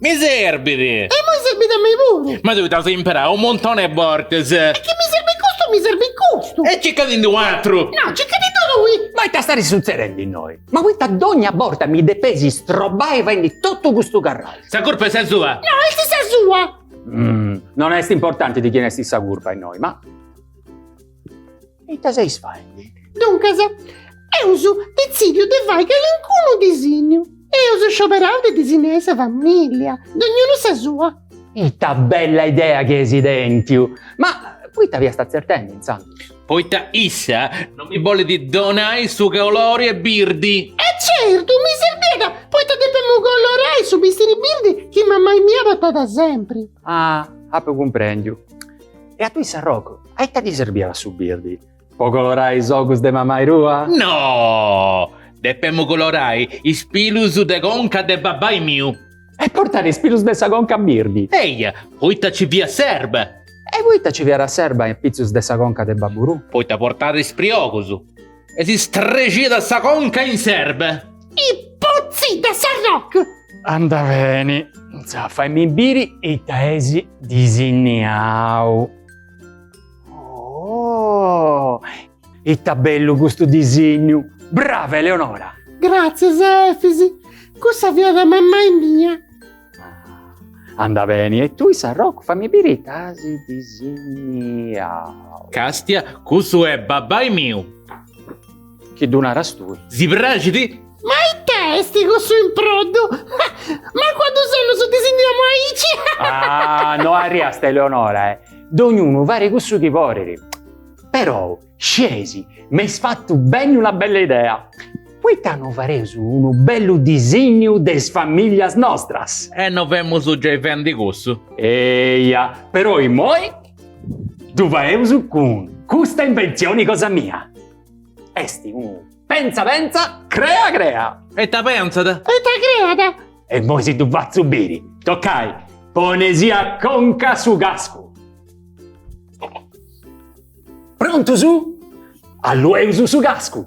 Mi serbit! E immoi serbit a mei puru! Ma tui dd'as imperau unu muntoni 'e bortas! E chi mi serbit custu, mi serbit custu! E circa ti ndi un'atru! No, circa ti ndi tui! Ma ita starit sutzedendi innoi? Ma poita dogna borta mi depesi istrobai faendi totu custu carraxu? Sa curpa est sa sua! No, est sa sua! Non est importanti di chini est sa curpa innoi, ma. Ita seis faendi? Duncas, eus detzìdiu de fai calincunu disinnu. Eus scioberau de disinnai sa famìllia, dognunu sa sua. Ita bella idea chi eis tentiu! Ma poita fiast tzertendi intzandus? Poita issa no mi bolit donai su colori 'e birdi. E certu, mi serbiat poita depemu colorai su bistiri birdi chi mamai mia portat sempri. Ah, apu cumprendiu. E a tui s'arrogu? A ita ti serbiat su birdi? Po colorai is ogus de mamai tua? No! Depemu colorai is pilus de conca de babbai miu! E portat is pilus de sa conca birdi? Eia! Poita ci fiat s'erba! E poita ci fiat s'erba in pitzus de sa conca de babbu tuu? Poita portat is priogus! E si strexiat sa conca in s'erba! I putzi de s'arrocu! Anda beni! Intzà, faimi biri ita eis disinniau! Oh! Ita bellu custu disignu! Brava Eleonora! Gratzias Efisi! Cussa fiat a mammai mia! Anda beni, e tui Sarrocu fammi biri ita si disigniau. Castia, Cussu est babbai miu! Chi ddu naras tui. Si praxit? Ma ita est cussu improddu? Ma cuddu solu su disinniamu aici? Ah, no arriast Eleonora, eh! Dognunu farit cussu chi porit. Perou, sceis, m'eis fattu benni una bella idea. Poita no fareus unu bellu disinniu de is familias nostras? E no femus giai fendi cussu? Eia, perou immoi ddu faeus cun custa invenzioni cosa mia. Est unu penza penza crea crea. E ita pentzat. E ita creat. E immoi si ddu fatzu biri. Toccai, poneisì a conca su cascu. Prontus? Allueus su cascu.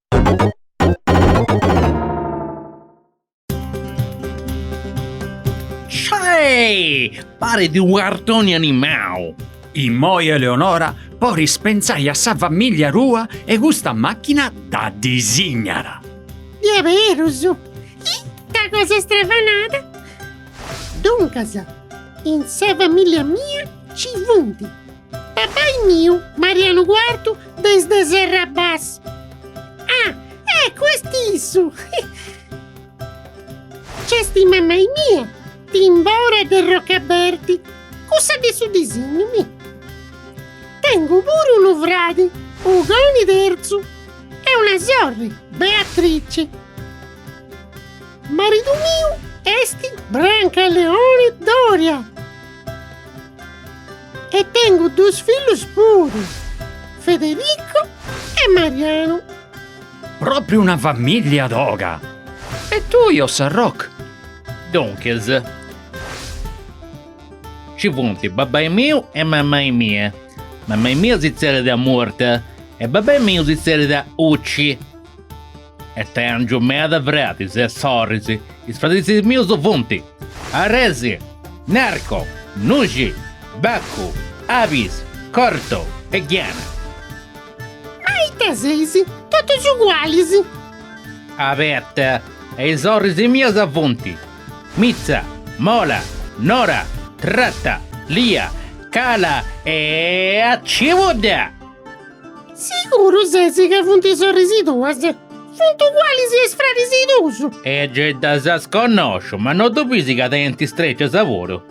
Sciaeeh! Paret unu cartoni animau! Immoi Eleonora poris pentzai a sa famìllia tua e custa màchina dda disignat. Diaberus! Ita cosa stravanada! Duncas, in sa famìllia mia nci funt. Papai miu, Marianu Quartu de is de Serra Bas. Ah, eccu, est issu! Nc'est mamai mia, Timbora de Rocaberti, cussa de su disignu, mi. Tengu puru unu fradi, Ugoni Terzu, e una sorri, Beatrici. Maridu miu est Brancaleoni Doria. E tengu dus fillus puru, Federico e Marianu. Propriu una famiglia toga! E tui, o Sarroc? Duncas, ci funt babbai miu e mammai mia. Mammai mia si tzerriat Murta e babbai miu si tzerriat Ucci. E tèngiu meda fradis e sorris, is fradis mius funt, Aresi, Narco, Nuxi, Baccu, Abis, Corto e Ghiana. Ma ita seis? Totus ugualis! Abeta, e is sorris mias funt, Mitza, Mola, Nora, Tratta, Lia, Cala e Cibudda! Siguru ses ca funt is sorris tuas? Funt ugualis a is fraris tuus. E gei ddas connosciu, ma no ddu bisi ca tenint is trecias puru?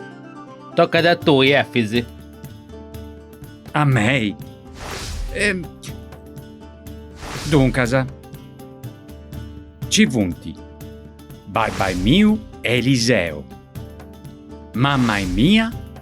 Tocat a tui, Efis. A mei? E duncas, nci funt babbai miu e Eliseu, mammai mia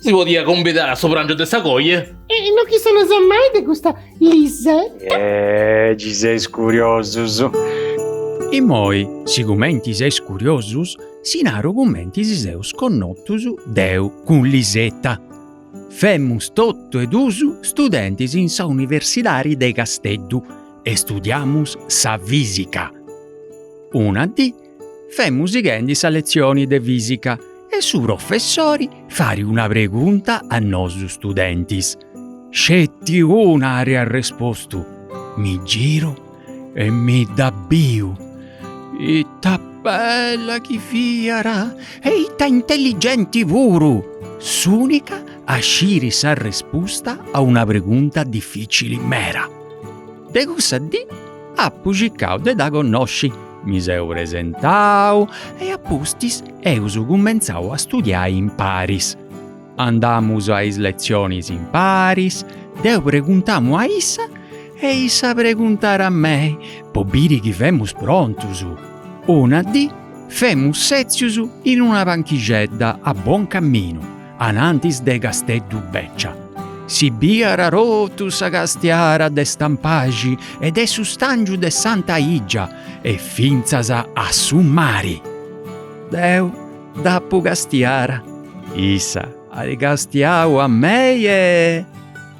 Si podiat cumbidare a su prangiu de sa coja. E no chistionas mai de custa Liseta. E chi seis curiosus. Immoi, sigumenti seis curiosus, si naru cumenti si seus connotus deu cun Liseta. Femus totu e duus studentis in sa universidadi de Casteddu e studiamus sa fisica. Una dì. Femus sighendi sa letzioni de fìsica e su professori fait una pregunta a nosu studentis. Sceti una at arrespostu. Mi giru e mi dda biu. Ita bella chi fiat e ita intelligenti puru! S'ùnica a sciri s'arrespusta a una pregunta dificili mera. De cussa dì Apu circau de dda connosci, mi seu presentau e a pustis eus cumentzau a studiai imparis. Andamus a is letzionis imparis, deu preguntamu a issa e issa preguntat a mei po biri chi femus prontus. Una dì femus sètzius in una panchixedda a Buoncaminu anantis de Casteddu Beccia. Si biiat totu sa castiara de Stampaxi e de su stàngiu de Santa Igia e fintzas a su mari. Deu dd'apu castiara, issa at castiau a mei e.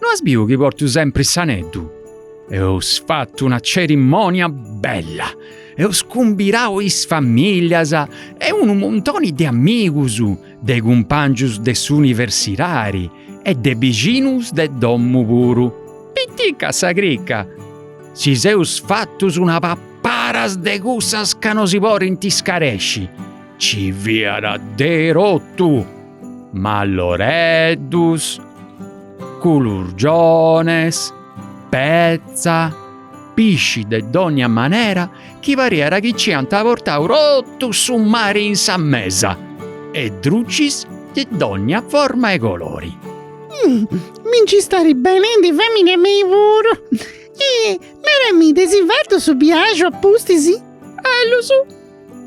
No as biu chi portu sempri s'aneddu? Eus fatu una cerimònia bella, eus cumbirau is famìlias e unu muntoni de amigus, de cumpàngius de s'universidadi e de bixinus de domu puru. Pitica sa crica! Si seus fatus una paparas de cussas ca no si porint scaresci! Ci fiat de totu, malloreddus, culurgiones, petza, pisci de dònnia manera chi pariat chi ci ant portau totu su mari in sa mesa e drucis de dònnia forma e colori. Mi nci starit benendi fèmini a mei puru. Naramì, dd'eis fatu su biaxu a pustis? Ellus.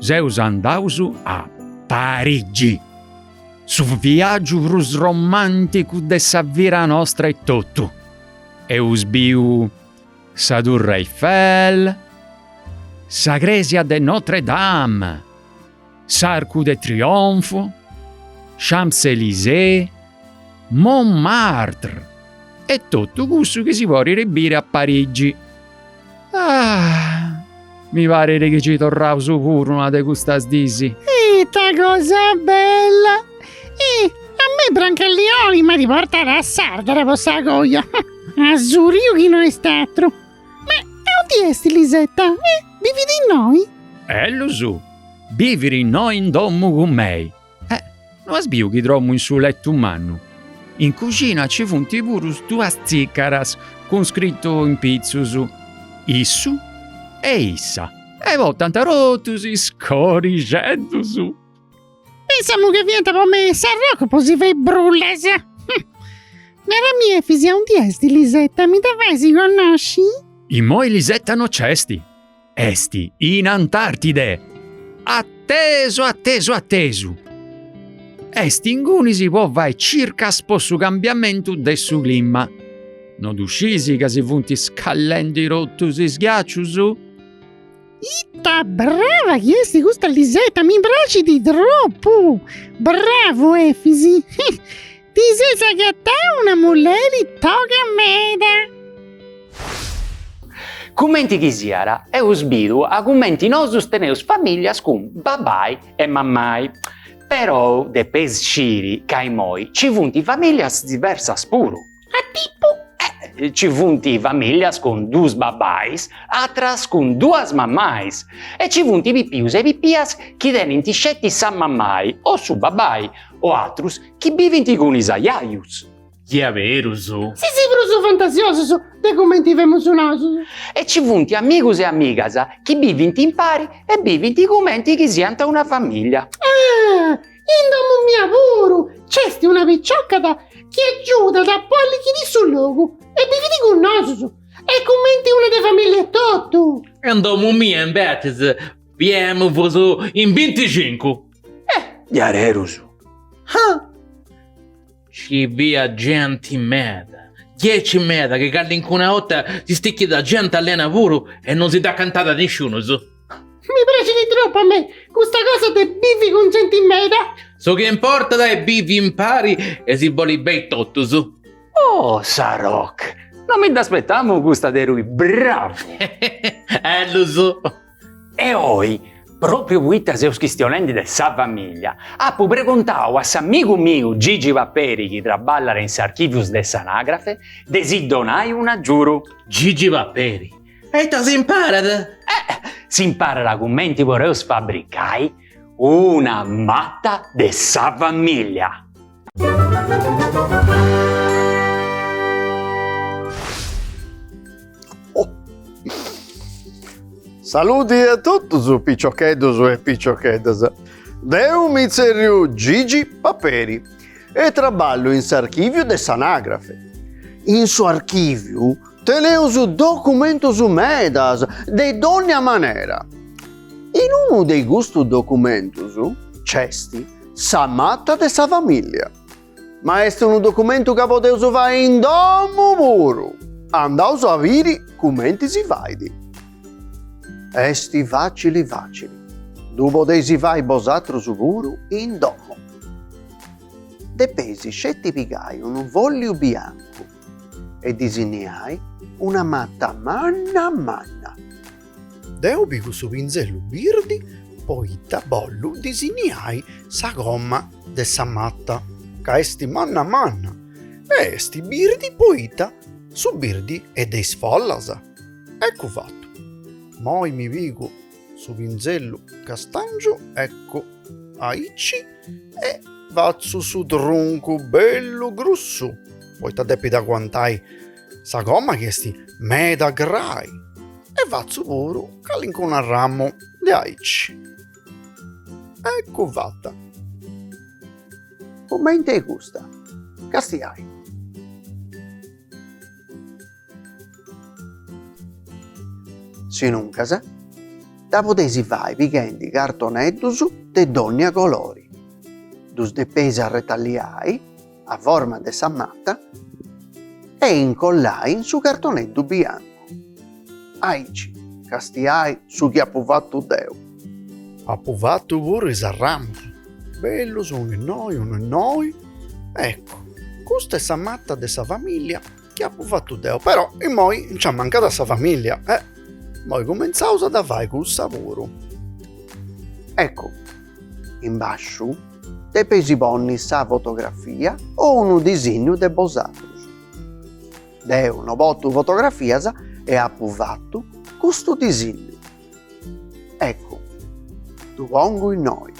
Seus andaus a Parigi, su viàgiu prus romànticu de sa vida nostra etotu. Eus biu sa Turre Eiffel, sa crèsia de Notre Dame, s'Arcu de Trionfu, Champs-Elysées, Montmartre e totu cussu chi si podit biri a Parigi. Ah! Mi paret chi ci torraus puru una de custas dis. Ita cosa bella! Ih, a mei Brancallioni m'at portada a Sàrdara po sa coja. Asuriu chi no est atru. Ma aundi est Lisetta? Eh? Bivit innoi? Ellus? Bivit innoi in domu cun mei. Eh, no as biu chi dromu in su lettu mannu? In cuxina ci funti puru duas tzicaras cun scrittu in pitzus, issu e issa. E portant totus is corixeddus. Pensemu chi fiant po me is arrocu po si fai brullas. Neramì Efisi, aundi est Lisetta, mi dda fais connosci? Immoi Lisetta no c'est. Est in Antartide! Attesu, attesu, attesu! Est ingunis po fai circas po su cambiamentu de su clima. No ddu scis ca si funt scallendi totus is ghiacius? Ita brava chi est custa Lisetta, mi praxit tropu! Bravu Efisi! Ti ses agatau una mulleri toga meda. Cumenti chi siat, eus bidu a cumenti nosus teneus famìllias cun babai e mamai. Perou depeis sciri ca imoi nci funt famìllias diversas puru. A tipu? Eh, nci funt famìllias cun duus babais, atras cun duas mamais. E nci funt pipius e pipias chi tenint sceti sa mamai o su babai, o atrus Chi bivint cun is ajajus. Diaberus. Seis prus fantasiosus de cumenti femus nosus. E ci funt amigus e amigas chi bivint impari e bivint cumenti chi siant una famìllia. Ah! In domu mia puru nc'est una picioca chi agiudat po allichiri su logu e bivit cun nosus, est cumenti una de famìllia etotu. In domu mia imbetzes bivemus in binticincu. Eh! Diaderus! Ah! Ci fiat genti meda, diaici meda, chi callincuna 'orta si stichiat genti allena puru e non si nd'acatàt nisciunus. Mi praxit tropu a mei custa cosa de bivi cun genti meda. Su chi importat est bivi impari e si boli beni totus. Oh Saroc! Non mi dd'aspetamu custa de rui, bravu! Ellus! E oi, pròpriu poita seus chistionendi de sa famìlia, apu pregontau a s'amigu miu Gigi Paperi chi traballat in s'archìvius de s'Anagrafe de si donai un'agiuru. Gigi Paperi, E ita s'imparat? S'imparat cumenti podeus fabricai una mata de sa famìlia. Saludi a totus piciocheddus e piciocheddas. Deu mi tzerriu Gigi Paperi e traballu in s'archìviu de s'anagrafe. In su archìviu teneus documentus medas de dònnia manera. In unu de custus documentus nc'est Sa mata de sa famìllia. Ma est unu documentu ca podeus fai in domu puru! Andaus a biri cumenti si fait. Est fàcili fàcili, ddu podeis fai bosatrus puru in domu. Depeis sceti pigai unu fòlliu biancu e disinniai una mata manna manna. Deu pigu su pinzellu birdi poita bollu disiniai sa coma de sa matta ca est manna manna e est birdi poita su birdi est de is follas. Eccu fatu. Moi mi pigu su pinzellu castàngiu eccu aici e fatzu su truncu bellu grussu poita depit aguantai Sa coma chi est meda grai. E fatzu puru calincunu arramu de aici. Ecu fata. Cumenti 'e custa. Castiai. Sinuncas dda podeis fai pighendi cartoneddus de dònnia colori. Ddus depeis arretalliai. a forma de sa mata e incollai in su cartoneddu biancu. Aici castiai su chi apu fatu deu. Apu fatu puru is arramus, bellus unu innoi unu innoi, eccu, custa est sa mata de sa familia chi apu fatu deu. Però immoi nci amancat sa familia e immoi cumentzaus a dda fai cussa puru. Eccu, in basciu depeis ponni sa fotografia o unu disinnu de bosatrus. Deu no portu fotografias e apu fattu custu disinnu. Eccu, ddu pongu innoi.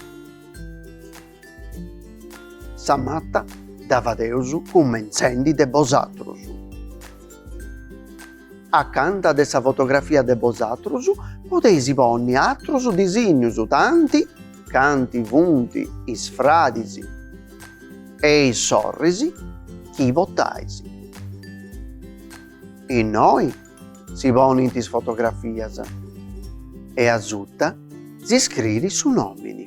Sa matta dda fadeus cummentzendi de bosatrus. Acanta de sa fotografia de bosatrus podeis ponni atrus disinnius tanti canti funt is fradis e is sorris chi portais. Innoi si ponint is fotografias e asuta si scriit su nomini.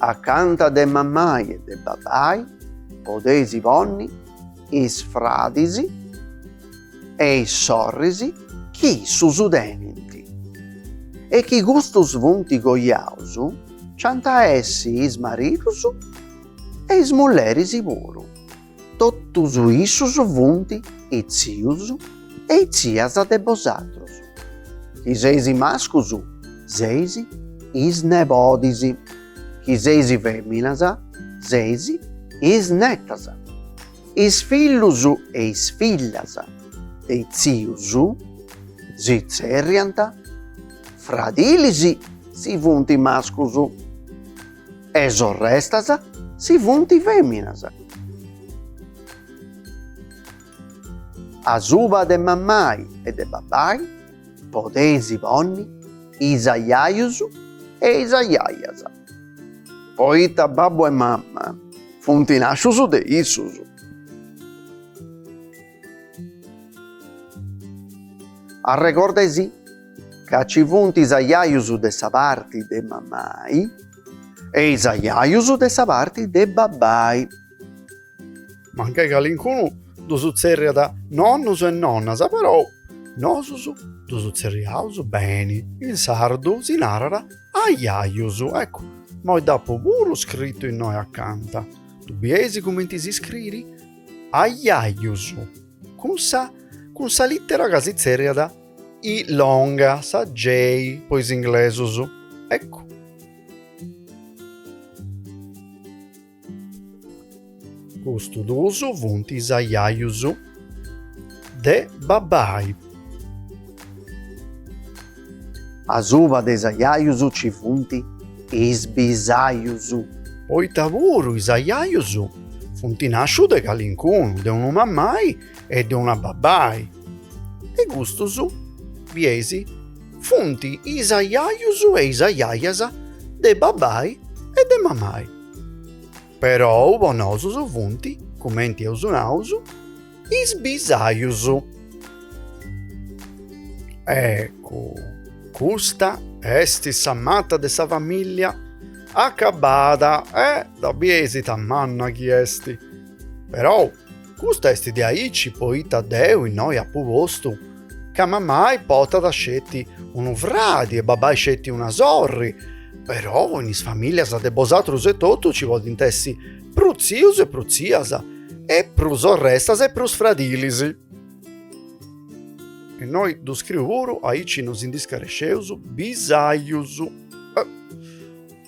Acanta de mammai e de babbai podeis ponni is fradis e is sorris chi issus tenint e chi custus funt coiaus nci ant a essi is maridus e is mulleris puru. Totus issus funt is tzius e is tzias de bosatrus, chi seis mascus seis is nebodis, chi seis feminas seis is netas, is fillus e is fillas de is tzius si tzerriant fradilis si funt mascus. e sorrestas si funt feminas. Asuba de mammai e de babbai podeis ponni is ajajus e is ajajas, poita babbu e mamma funt nàscius de issus. Arregordaisì ca ci funt is ajajus de sa parti de mamai e is ajajus de sa parti de babai. Mancai calincunu ddus tzerriat nonnus e nonnas, perou nosus ddus tzerriaus beni, in sardu si narat ajajus, eccu immoi dd'apu puru scritu innoi acanta, ddu bieis cumenti s'iscriri? Aiaius, cun sa cun sa lìtera ca si tzerriat i longa, sa J po is inglesus, eccu. Custu dus funt is aiaius de babbai. Asuba de is ajajus ci funt is bisajus. Poita puru is ajajus funt nascius de calincunu, de unu mamai e de una babai, e custus, bieis, funt is ajajus e is ajajas de babai e de mamai. Perou po nosus funt, cumenti eus naus, is bisajus. Ecu, custa est sa mata de sa famìllia acabada e dda bieis ita manna chi est, perou! Custa est de aici poita deu innoi apu postu ca mamai potat sceti unu fradi e babai sceti una sorri, però in is familias de bosatrus etotu ci podint essi prus tzius e prus tzias e prus sorrestas e prus fradilis. Innoi ddu scriu puru, aici no si ndi scaresceus, bisajus.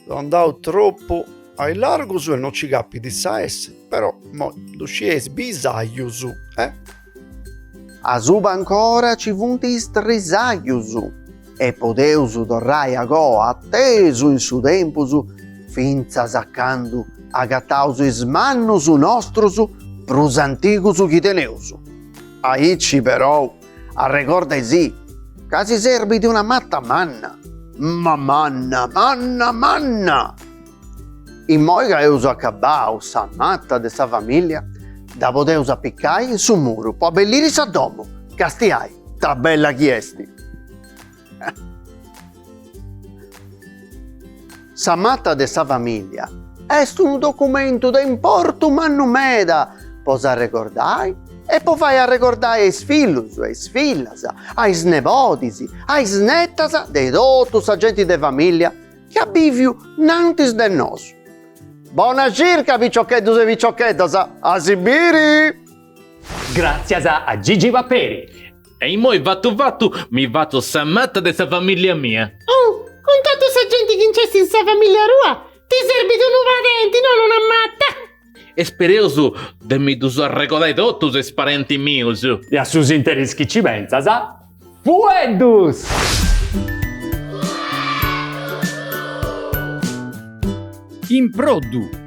so andau troppu a largu e no ci capit sa esse però mo ddu scieis bisajus e asuba ancora ci funt is trisajus e podeus torrai agoa atesu in su tempus fintzas a candu agataus is mannus nostrus prus antigus chi teneus aici però Arregordaisì ca si serbit de una matta manna, ma manna, manna, manna! Immoi ca eus acabbau sa matta de sa famìllia, dda podeus apicai in su muru po abbelliri sa domu, castiai, ta bella chi est! Sa mata de sa famìlia est unu documentu de importu mannu meda po s'arregordai e po fai arregordai a is fillus, a is fillas, a is nebodis, a is netas de totu sa genti de famìlia chi at bìviu nantis de nosu. Bona circa piciocheddus e piciocheddas, a si biri! Gràtzias a Gigi Paperi! E immoi fatu fatu, mi fatzu sa mata de sa famìllia mia. Oh, cun totu sa genti chi nc'est in sa famìllia tua, ti serbit unu padenti, non una mata! E spereus de mi ddus arregodai totus is parentis mius! E a su s'interis chi nci pentzas, fueddus improddu!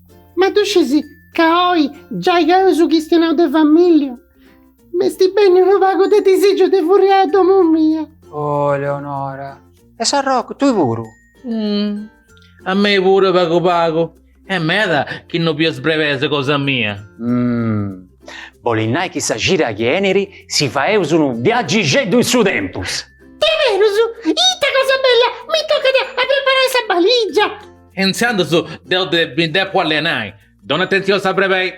Ma ddu scis ca oi giai chi eus chistionau de famìllia, m'est benniu unu pagu de disìgiu de furriai a domu mia. Oh Eleonora de sa Rocca, tui puru? Mh, a mei puru pagu pagu. Est meda chi no biu is brebeis cosa mia. Mh, bolit nai chi sa cida chi enit si faeus unu viagixeddu in su tempus. Diaderus? Ita cosa bella, mi tocat a preparai sa balìgia. Intzandus deu mi depu allenai. Donu atentzioni a sa brebei.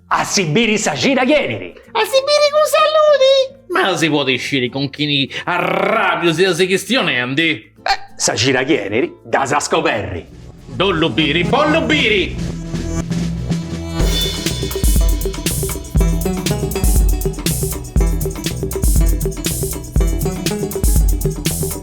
A si biri sa cida chi enit. A si biri cun saludi. Ma si podit sciri cun chini arrabiu seis chistionendi. Sa cida chi enit dd'as a scoberri. Bollu biri, bollu biri.